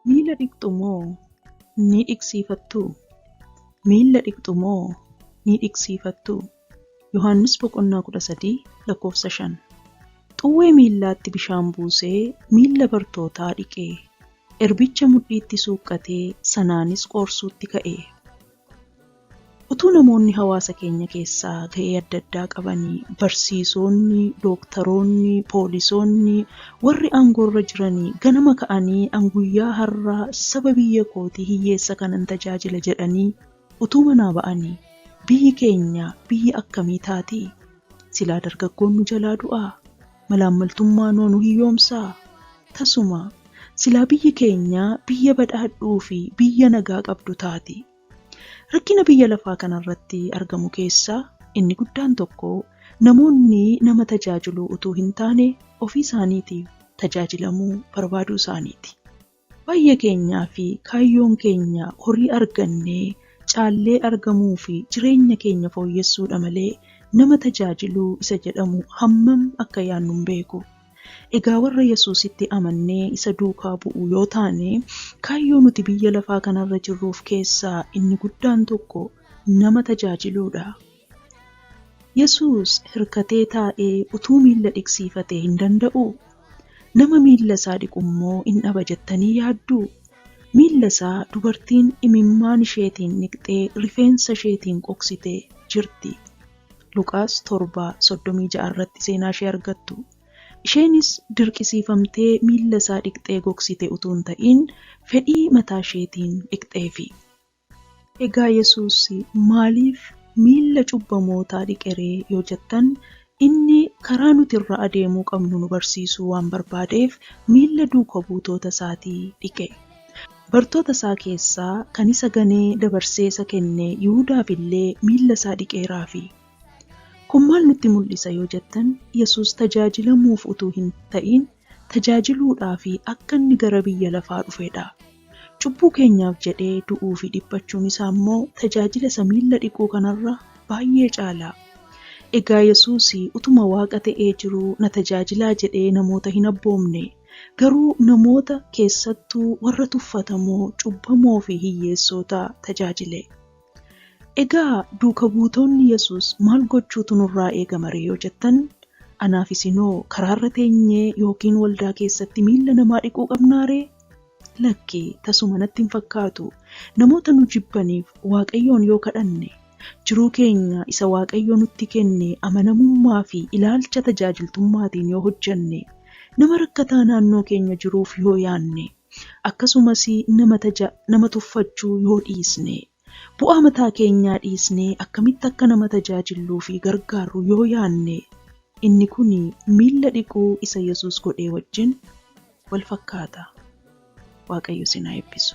Miila dhiqxu moo ni dhiqsiifattu? Miila dhiqxu moo ni dhiqsiifattu? Yohaannis boqonnaa 13 lakkoofsa 5. Xuwwee miillaatti bishaan buusee miilla bartootaa dhiqe. Erbicha mudhiitti suuqqatee sanaanis qoorsuutti ka'e. Utuu namoonni hawaasa keenya keessaa ga'ee adda addaa qabanii, barsiisoonni, dooktaroonni, poolisoonni, warri aangoorra jiranii ganama ka'anii an guyyaa har'aa saba biyya kootii hiyyeessa kanan tajaajila jedhanii utuu manaa ba'anii biyyi keenya biyya akkamii taati? Silaa dargaggoon nu jalaa du'aa? Malaammaltummaanoo nu hiyyoomsaa? Tasumaa! Silaa biyyi keenya biyya badhaadhuufi biyya nagaa qabdu taati. Rakkina biyya lafaa kanarratti argamu keessaa inni guddaan tokko namoonni nama tajaajiluu utuu hintaane ofiisaaniitiif tajaajilamuu barbaaduusaaniiti. Baay'ee keenyaa fi kaayyoon keenya horii argannee caallee argamuu fi jireenya keenya fooyyessuu dha malee nama tajaajiluu isa jedhamu hammam akka yaadnu hin beeku. Egaa warra Yesuusitti amannee isa duukaa bu'u yoo taane, kaayyoo nuti biyya lafaa kanarra jirruuf keessaa inni guddaan tokko nama tajaajiluu dha. Yesuus hirkatee taa'ee utuu miilla dhiqsiifatee hin danda'uu? Nama miilla isaa dhiqu immoo in dhaba jettanii yaadduu? Miilla isaa dubartiin imimmaan isheetiin dhiqxee rifeensa isheetiin qoqsite jirti. Luqaas 7, 36 irratti seenaa ishee argattu. Isheenis dirqisiifamtee miilla isaa dhiqxee gogsite utuu hin ta'iin fedhii mataa isheetiin dhiqxeefi. Egaa Yesuus maaliif miilla cubbamootaa dhiqe ree yoo jettan, inni karaa nuti irra adeemuu qabnu nu barsiisuu waan barbaadeef miilla duuka buutoota isaatii dhiqe. Bartoota isaa keessaa kan isa ganee dabarsee isa kenne Yihudaaf illee miilla isaa dhiqeeraafi. Kun maal nutti mul'isa yoo jettan, Yesuus tajaajilamuuf utuu hin ta'iin tajaajiluudhaafi akka inni gara biyya lafaa dhufedha. Cubbuu keenyaaf jedhee du'uufi dhiphachuun isaa immoo tajaajila isa miilla dhiquu kanarra baay'ee caala. Egaa Yesuus utuma Waaqa ta'ee jiruu na tajaajilaa jedhee namoota hin abboomne. Garuu namoota, keessattuu warra tuffatamoo, cubbamoo fi hiyyeessoota tajaajile. Egaa duuka buutoonni Yesuus maal gochuutu nurraa eegama ree yoo jettan, anaaf isin hoo karaarra teenyee yookiin waldaa keessatti miilla namaa dhiquu qabnaa ree? Lakki, tasuma natti hin fakkaatu. Namoota nu jibbaniif Waaqayyoon yoo kadhanne, jiruu keenya isa Waaqayyo nutti kenne amanamummaa fi ilaalcha tajaajiltummaatiin yoo hojjenne, nama rakkataa naannoo keenya jiruuf yoo yaanne, Akkasumas nama taja, nama tuffachuu yoo dhiisne, bu'aa mataa keenyaa dhiisnee akkamitti akka nama tajaajilluu fi gargaarru yoo yaanne, inni kun miilla dhiquu isa Yesuus godhee wajjin wal fakkaata. Waaqayyo isin haa eebbisu!